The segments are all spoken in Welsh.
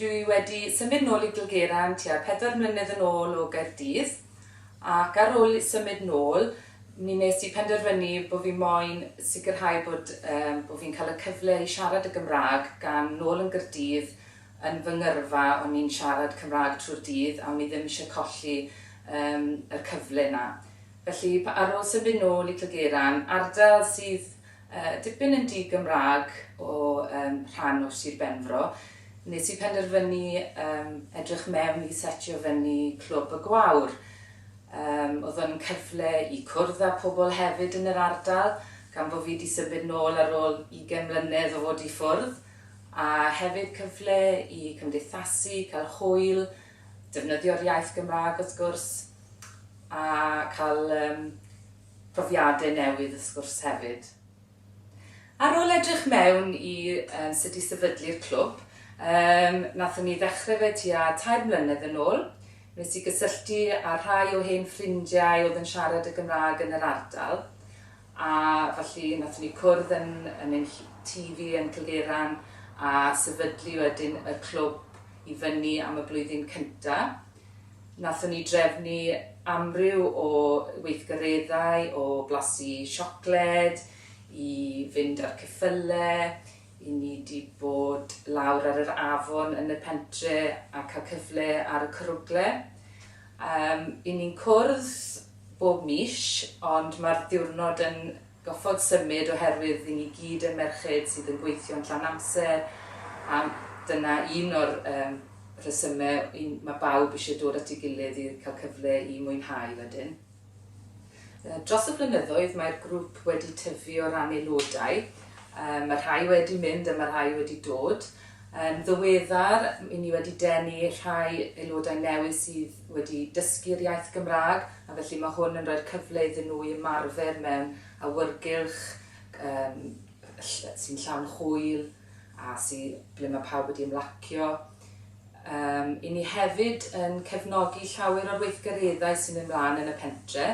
Dw i wedi symud nôl i Gilgera'n tua pedwar mlynedd yn ôl o Gaerdydd, ac ar ôl symud nôl, mi wnes i penderfynu bo' fi moyn sicrhau bod yy bo' fi'n cael y cyfle i siarad y Gymraeg, gan nôl yn Gyrdydd yn fy ngyrfa o'n i'n siarad Cymraeg trwy'r dydd a o'n i ddim eisiau colli yym yr cyfle 'na. Felly, p- ar ôl symud nôl i Clgera'n ardal sydd Dipyn yn di-Gymraeg o rhan o Sir Benfro, nes i penderfynu edrych mewn i setio fyny Clwb y Gwawr. Oedd o'n cyfle i cwrdd â pobl hefyd yn yr ardal, gan bo' fi 'di symud nôl ar ôl ugain mlynedd o fod i ffwrdd, a hefyd cyfle i cymdeithasu, cael hwyl, defnyddio'r iaith Gymraeg wrth gwrs, a cael profiadau newydd y sgwrs hefyd. Ar ôl edrych mewn i sut i sefydlu'r clwb, yym, nathon ni ddechrau fe tua tair mlynedd yn ôl, wnes i gysylltu â rhai o hen ffrindiau oedd yn siarad y Gymraeg yn yr ardal, a felly nathon ni cwrdd yn yn ein tŷ fi yn Cilgeuran a sefydlu wedyn y clwb i fyny am y blwyddyn cynta'. Nathon ni drefnu amryw o weithgareddau o blasu siocled, i fynd a'r ceffyle, i ni di bod lawr ar yr afon yn y pentre a cael cyfle ar y cwrwgle. Yym i ni'n cwrdd bob mis ond ma'r ddiwrnod yn Gorfod symud oherwydd ry'n ni gyd yn merched sydd yn gweithio'n llawn amser a dyna un o'r yym rhesymau i ma' bawb isie dod at ei gilydd i cael cyfle i mwynhau wedyn. Dros y blynyddoedd mae'r grŵp wedi tyfu o ran aelodau, yy ma' rhai wedi mynd a ma' rhai wedi dod, Yn ddiweddar, i ni wedi denu rhai aelodau newydd sydd wedi dysgu'r iaith Gymraeg, a felly mae hwn yn rhoi'r cyfle iddyn nhw i ymarfer mewn awyrgylch yym ll- sy'n llawn hwyl a sy- ble mae pawb wedi ymlacio. Yym, i ni hefyd yn cefnogi llawer o'r weithgareddau sy'n mynd mlaen yn y pentre',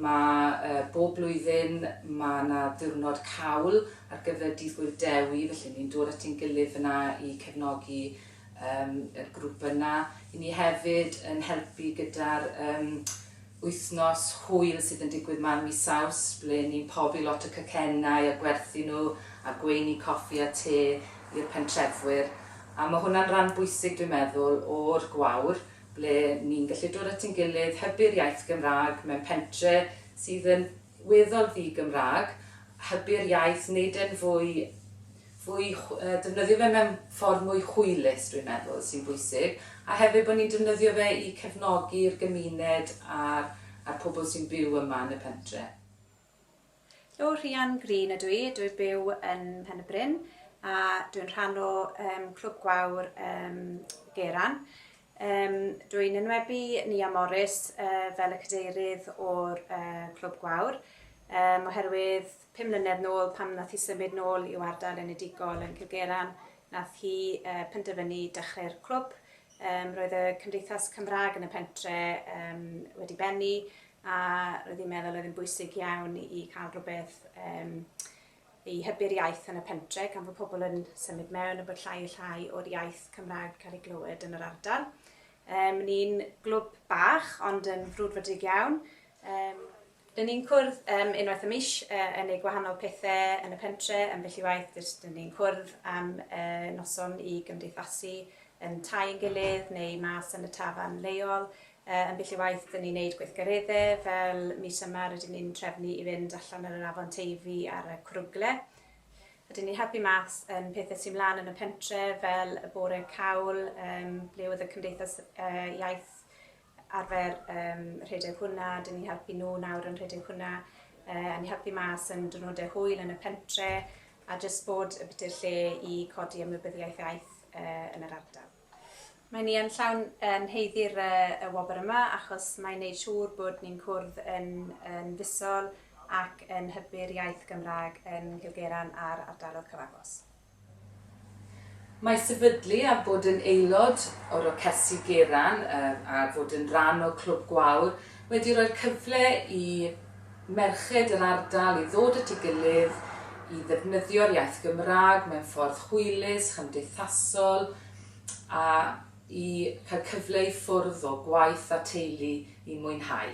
Mae yy bob blwyddyn ma' 'na ddiwrnod cawl ar gyfer Dydd Gŵyl Dewi felly ni'n dod at ein gilydd fan'na i cefnogi yym y grŵp yna. 'Yn ni hefyd yn helpu gyda'r yym wythnos hwyl sydd yn digwydd 'ma yn mis Awst ble ni'n pobi lot o cacennau a gwerthu nhw a gweini coffi a te i'r pentrefwyr a ma' hwnna'n ran bwysig dwi'n meddwl o'r gwawr. ble ni'n gallu dod at ein gilydd, hybu'r iaith Gymraeg mewn pentre sydd yn weddol ddi-Gymraeg, hybu'r iaith, wneud e'n fwy, fwy, defnyddio fe mewn ffordd mwy hwylus, dwi'n meddwl, sy'n bwysig, a hefyd bod ni'n defnyddio fe i cefnogi'r gymuned a'r a'r pobl sy'n byw yma yn y pentre. Helo, Rhian Green ydw i, dw i'n byw yn Mhen-y-bryn a dw i'n rhan o um, Clwb Gwawr um, Geran. Um, dw i'n enwebu Nia Morris uh, fel y cadeirydd o'r uh, Clwb Gwawr um, oherwydd pum mlynedd nôl pam nath hi symud nôl i'w ardal enedigol yn Cilgeran nath hi uh, penderfynu dechrau'r clwb Yym, roedd y Cymdeithas Cymraeg yn y pentre um, wedi bennu a roedd hi'n meddwl oedd yn bwysig iawn i cael rhywbeth um, i hybu'r iaith yn y pentre gan fod pobl yn symud mewn a bod llai a llai o'r iaith Cymraeg cael ei glywed yn yr ardal. Um, ni'n glwb bach ond yn frwdfrydig iawn. Um, Dyn ni'n cwrdd yym unwaith y mis yy yn neu gwahanol pethe yn y pentre ambell i waith jyst dyn ni'n cwrdd am yy noson i gymdeithasu yn tai ein gilydd neu mas yn y tafarn leol yy ambell i waith dyn ni'n neud gweithgaredde fel mis yma rydyn ni'n trefnu i fynd allan ar yr afon Teifi ar y cwrwgle a dyn ni'n helpu mas yn pethe sy mlan yn y pentre fel y bore cawl yym ble oedd y cymdeithas yy iaith arfer yym rhedeg hwnna, dyn ni'n helpu nhw nawr yn rhedeg hwnna, yy yn helpu mas yn diwrnodau hwyl yn y pentre, a jyst bod y biti'r lle i codi ymwybyddiaeth iaith yy yn yr ardal. Mae ni yn llawn yn heiddi'r yy y wobr yma achos mae'n neud siŵr bod ni'n cwrdd yn yn fisol ac yn hybu'r iaith Gymraeg yn Nghilgeran a'r ardalodd cyfagos. Mae sefydlu a bod yn aelod o Rocesi Geraint a fod yn rhan o Clwb Gwawr wedi rhoi'r cyfle i merched yr ardal i ddod at ei gilydd i ddefnyddio'r iaith Gymraeg mewn ffordd hwylus, chymdeithasol a i cael cyfle i ffwrdd o gwaith a teulu i mwynhau.